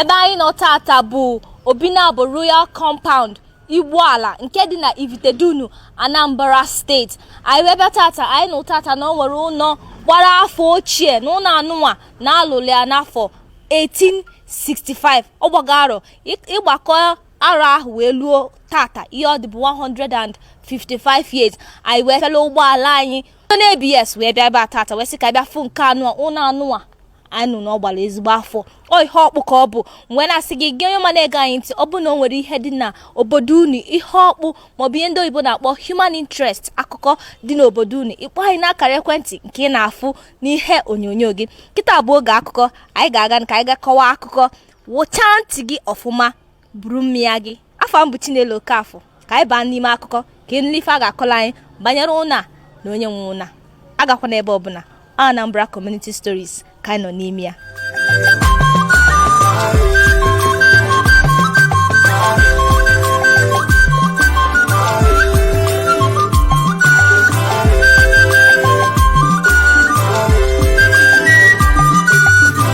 ebe anyị nọ tata bụ obinabo royal compound igboala nke dị na ivitedunu anambra steeti anyị wee bịa tata anyị nụ tata na o nwere ụnọ gbara afọ ochie na ụnọ anụnwa na a lụlụ ya n'afọ 1865 ọ gbago arọ ị gbakọ arọ ahụ wee luo tata ihe ọ dị bụ 155 years anyị wee fela ụgbọala anyị onye abs wee bịa ebe a tata wee sị ka bịa fụ nke anụnwa ụlọ anụnwa anyị nụ na ọ gbara ezigbo afọ ọ ihe ọkpụ ka ọ bụ m wee na-asị gị gị onye ọma na-ege anyị ntị ọ bụ na o nwere ihe dị na obodo unu ihe ọkpụ maọbụ ihe ndị oyibo na-akpọ human interest akụkọ dị n'obodo unu ị kpọọ anyị n'akara ekwentị nke ị na-afụ n'ihe onyonyo gị kịta bụ oge akụkọ anyị ga-aga ka anyị ga kọwa akụkọ wụchaa ntị gị ọfụma buru mmịa gị afa m bụ Chinelo Okafor ka anyị baa n'ime akụkọ ka ị nụ ife a ga-akọlụ anyị banyere ụnọ a na onye nwe ụnọ a agakwana ebe ọbụna Anambra Community Stories ka anyị nọ n'ime ya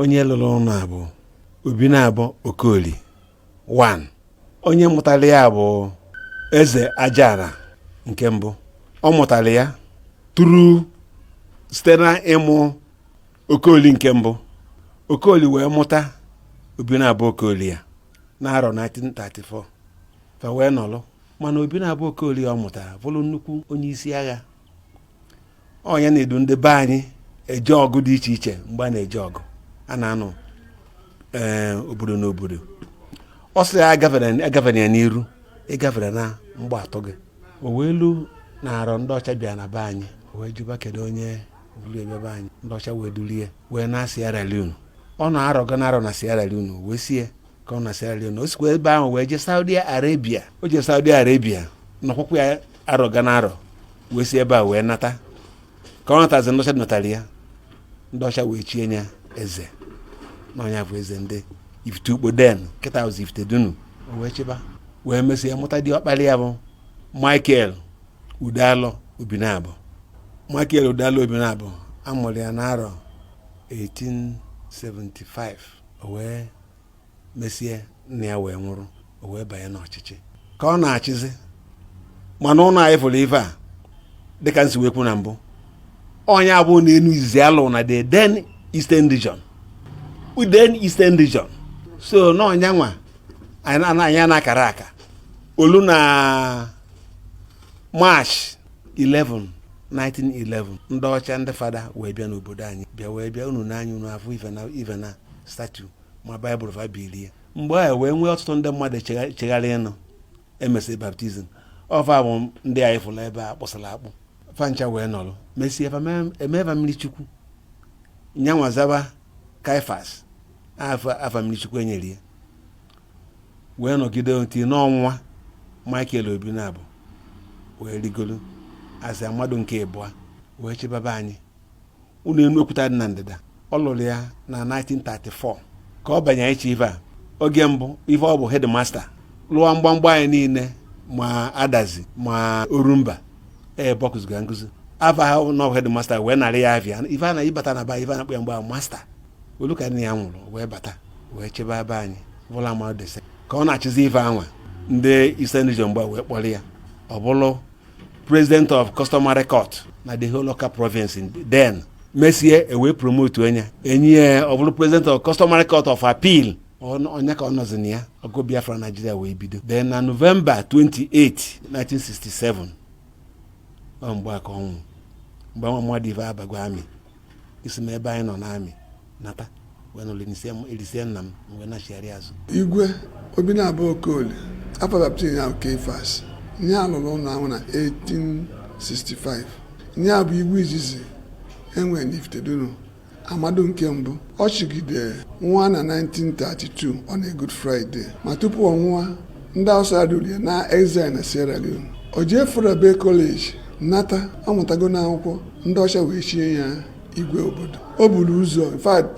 onye lụlụ ụnọ a bụ obinabo okoli 1 onye mụtara ya bụ eze ajara nke mbụ ọ mụtara ya tụrụ site na ịmụ okoli nke mbụ okoli wee mụta obinabo okoli a n'arọ 1934 fa wee nọlụ mana obinabo okoli ọ mụtara bụrụ nnukwu onye isi agha onye na-edu ndị be anyị eje ọgụ dị iche iche mgbe a na-eje ọgụ a na-anụ ee obodo n'obodo ọ sị ya agafere agafere ya n'iru ị gafere na mgbọ atụọ gị o wee lu na arọ ndị ọcha bịa na be anyị o wee jụba kedu onye buru ebe be anyị ndị ọcha wee dulu ya wee naa Sierra Leone ọ nọọ arọ ga na arọ na Sierra Leone o wee sie ka ọ nọ Sierra Leone o sikwa ebe ahụ wee jee Saudi Arabia o jee Saudi Arabia nọkwukwa ya arọ ga na arọ wee si ebe a wee nata ka ọ natazi ndị ọcha natara ya ndị ọcha wee chie ya eze na ọ nya bụ eze ndị ifite ukpo then kịta bụzi ifite dunu o wee chịba wee mesịa mụta diọkpara ya bụ michael udalọ obinabo michael udalọ obinabo a mụrụ ya n'arọ 1875 o wee mesie nna ya wee nwụrụ o wee banye n'ọchịchị ka ọ na-achịzi mana ụnọ anyị fụrụ ife a dịka m si wee kwu na mbụ ọ nya bụ ụnọ enu izizi a lụ na the then eastern region then eastern region so na ọ nya nwa anyị na-akara aka o lu na march 11 1911 ndị ọcha ndị fada wee bịa n'obodo anyị bịa wee bịa unu n'anya unu afụ ife na ife na statue ma baịbụl fa bilie mgbe ahụ wee nwee ọtụtụ ndị mmadụ chegha- chegharị ịnụ emesịrị baptizim ọ fa bụ ndị anyị fụrụ ebe a kpụsịrị akpụ fa ncha wee nọrọ mesie fa mee- emeva mmiri chukwu nya nwa zaba kaifas afa afa mmiri chukwu enyere ya wee nọgide until ọ nwụa michael obinabo wee rigolu as amadụ nke ịbụa wee chịbaba anyị ụnọ enu okwuta dị na ndịda ọ lụrụ ya na 1934 ka ọ banye ịchị ife a oge mbụ ife ọ bụ hedmasta lụọ mgbamgba anyị niile ma adazi ma orumba ebe ọ kuziga nkuzi afa ahụ bụ hedmasta wee narị ya afa ife a na ị bata n'ebe a ife a na-akpọ ya bụ masta o lu ka nna ya nwụrụ wee bata wee chịbe be anyị bụlụ amadụ dị sekọnd ka ọ na-achịzi ife anwa ndị Eastern Region mgbe wee kpọrọ ya ọ bụrụ president of customary court na the whole Awka province in then mesie ewee promote nya nye ya ọ bụrụ president of customary court of appeal Ọ nya ka ọ nọzi na ya ọgụ biafra naijiria wee bido then na novemba 28 1967 ọ mgbe a ka ọ nwụ mgbe anwa mmadụ ife abago amị esi m ebe anyị nọ n'amị nata wee nọrọ elisie nna m m wee nachigharị azụ igwe obinabo okoli afa baptizim ya bụ kaifas nya lụrụ ụnọ anwa na 1865 nya bụ igwe izizi enwere n'ifitedunu amadu nke mbụ ọ chịgide nwụa na 1932 on a Good Friday ma tupu ọ nwụọ ndị Hausa edulu ya na exile na Sierra Leone o jee Fourah Bay College nata ọ mụtago n'akwụkwọ ndị ọcha wee chie ya igwe obodo o buru ụzọ in fact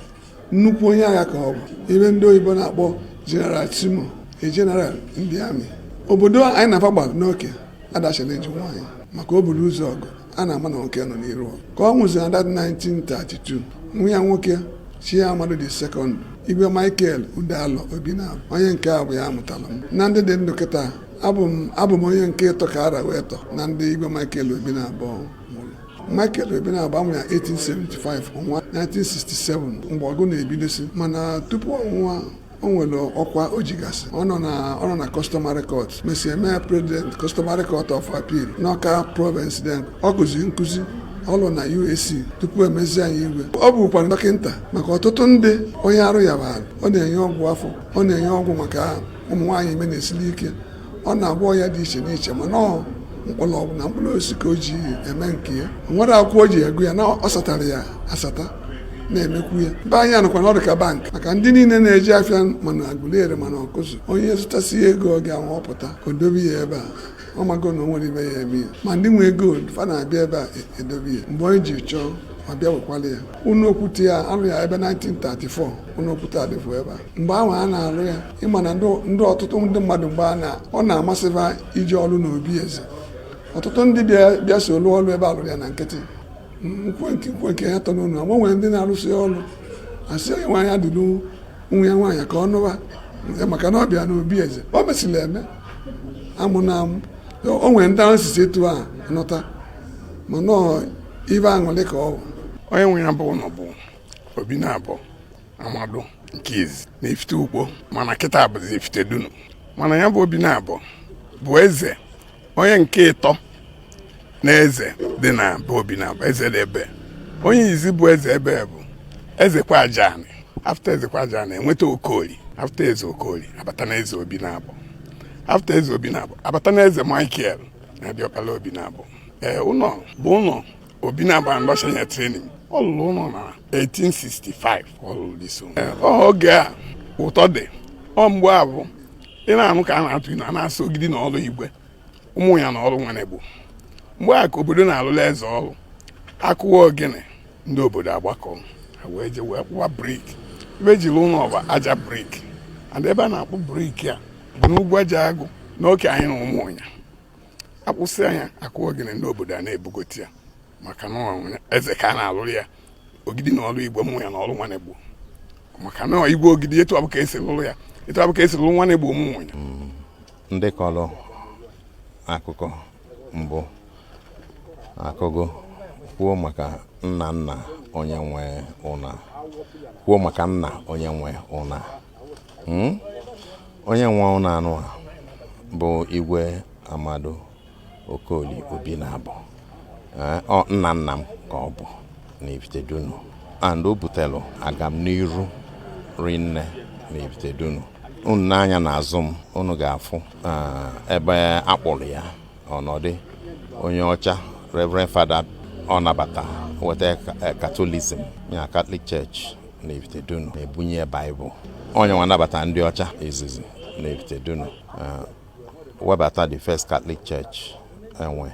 nnukwu onye agha ka ọ bụ ife ndị oyibo na-akpọ General Timo a general ndị amị obodo anyị na fa gbara n'oke adachara eji nwaanyị maka o buru ụzọ ọgụ a na-ama na nwoke nọ n'iru ka ọ nwụzi na 1932 nwa ya nwoke chie amadụ dị sekọnd igwe michael udealọ obinabo onye nke a bụ ya mụtalụ m na ndị dị ndụ kịta abụ m onye nke ịtọ kara wee tọ na ndị igwe michael obinabo mụrụ michael obinabo amụ ya 1875 ọ nwụa 1967 mgbe ọgụ na-ebidosi mana tupu ọ nwụa o nwere ọkwa o jigasị ọ nọ na ọ nọ na customary court mesie mee president customary court of appeal n'ọka province then ọ kụzi nkụzi ọ lụ na UAC tupu emezie anyị igwe ọ bụkwara dọkịta maka ọtụtụ ndị onye arụ ya bụ ọ na-enye ọgwụ afọ ọ na-enye ọgwụ maka ụmụ nwaanyị ime na-esili ike ọ na-agwọ ọya dị iche n'iche mana ọ mkpọrọgwụ na mkpụrụ osisi ka o ji eme nke ya nwere akwụkwọ o ji agụ ya na ọ satara ya asata na-emekwu ya be anyị anụkwa na ọ dị ka bank maka ndị niile na-eje afịa ma na aguleri ma na ọkụzụ onye zụtasịa ego ọ ga-ewepụta o dobe ya ebe a ọ mago na o nwerọ ife ya-eme ya ma ndị nwe gold fa na-abịa ebe a e-, edobe ya mgbe onye ji chọọ ọ bịa wekwala ya ụnọ okwute a a rụ ya ebe 1934 ụnọ okwute adịfụ ebe a mgbe ahụ a na-alụ ya ịma na ndị ọtụtụ ndị mmadụ mgbe a na ọ na-amasịba ije ọlụ n'obi eze ọtụtụ ndị bịa so lụọ ọlụ ebe a lụrụ ya na nkịtị nkwe nke ya tọ n'ụlọ ma nwere ndị na-arụsị ọlụ asị onye nwaanyị eduru nwa ya nwaanyị ka ọ nọwa maka na ọ bịa n'obi eze o mesịrị eme amụ na amụ o nwere ndị e sisi etu a nụta mana ọ ife aṅụlị ka ọ bụ onye nwe ya bụ ụlọ bụ obinabo amadu nke izi n'ifite ukpo mana kịta bụzi ifite dunu mana ya bụ obinabo bụ eze onye nke ịtọ na eze dị na be obinabo eze dị ebe onye izi bụ eze ebe bụ eze kwajani after eze kwajani enweta okoli after eze okoli abata na eze obinabo after eze obinabo abata na eze michael na diọkpala obinabo ee ụlọ bụ ụlọ obinabo ndị ọcha ya training ọ lụrụ ụlọ na 1865 ọ lụrụ dị so oge a ụtọ dị ọ mgbe a bụ ị na-anụ ka a na-atụ inu a na-asị ogidi na ọrụ igwe umunya na ọrụ nwanegbo mgbe a ka obodo na-alụla eze ọrụ a kụwa ogene ndị obodo agbakọ wee je wee kpụwa brick e wee jiri lụọ ọ bụ aja brick and ebe a na-akpụ brick a bụ n'ugwu aja agụ n'oke anyị na umunya a kpụsịa ya a kụwa ogene ndị obodo a na-ebugote ya maka na eze ka a na-alụrụ ya ogidi na ọrụ igwe umunya na ọrụ nwanegbo maka na igwe ogidi etu afụ ka e si lụrụ ya etu afụ ka e si lụrụ nwanegbo umunya mm, ndị kọrọ akụkọ mbụ akọgo kwuo maka nna nna onye nwe ụnọ a kwuo maka nna onye nwe ụnọ a hmm? onye nwe ụlọ anụ a bụ igwe amadu okoli obinabo eh, nna nna m ka ọ bụ n'ifite dunu and o butelu agamn'iru rinne n'ifite dunu unu nee anya n'azụ m unu ga-afụ eh, ebe a kpụrụ ya ọ nọdụ onye ọcha reverend father ọ nabata weta catholicism ya catholic church na Ifitedunu na-ebunye ya baịbụl onye nwa nabata ndị ọcha izizi na Ifitedunu uh, webata the first Catholic Church e nwe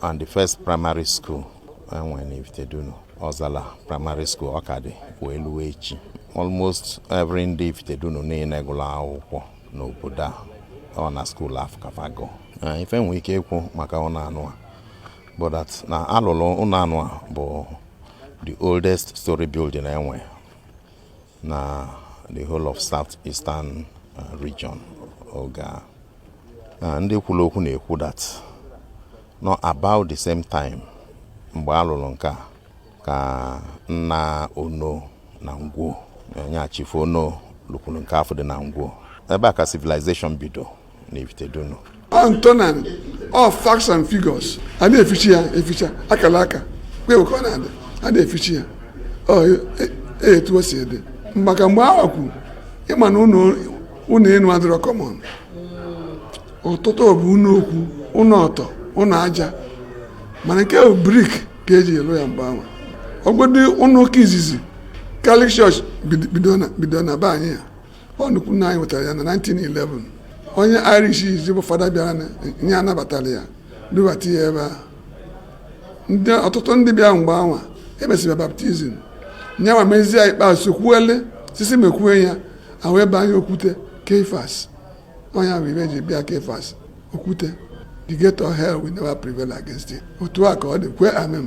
and the first primary school e nwe na Ifitedunu Ọzala primary school ọ ka dị wee luo echi almost every ndị Ifitedunu niile gụrụ akwụkwọ n'obodo a ọ na skuul afụ ka fa gụ uh, ife nwee ike ikwu maka ụnọ enu a bụ that na a lụlụ ụnọ enu a bụ the oldest story building e nwe na the whole of south eastern uh, region oge a na ndị kwuru okwu na-ekwu that na ọ about the same time mgbe a lụrụ nke a ka nna Onoh na Ngwo nya Chief Onoh lụkwuru nke afụ dị na Ngwo ebe a ka civilization bido antonan of facts and figures a na-efichi ya eficha akara aka kwe ka ọ na-adị a na-efichi ya e, e, etu o si dị maka mgbe awa kwu ị ma na ụnọ enu adịrọ common ọtụtụ bụ ụnọ okwu ụnọ ọtọ ụnọ aja mana nke bụ brick ka e ji lụ ya mgbe awa ọgwụdị ụnọ ụka izizi Catholic Church bido na be anyị ya ọ nnukwu nna anyị wetara ya na 1911 onye Irish izi bụ fada bịara nya nabatara ya dubata ya ebe a ọtụtụ ndị bịa mgbe awa emesịrị baptism nyanwa mezie ikpeazụ kwuele sisi mekwue ya ahụ ebe anyị okwute Kefas onye ahụ ibe ji bịa Kefas okwute the gate of hell will never prevail against it otu a ka ọ dị kwe amen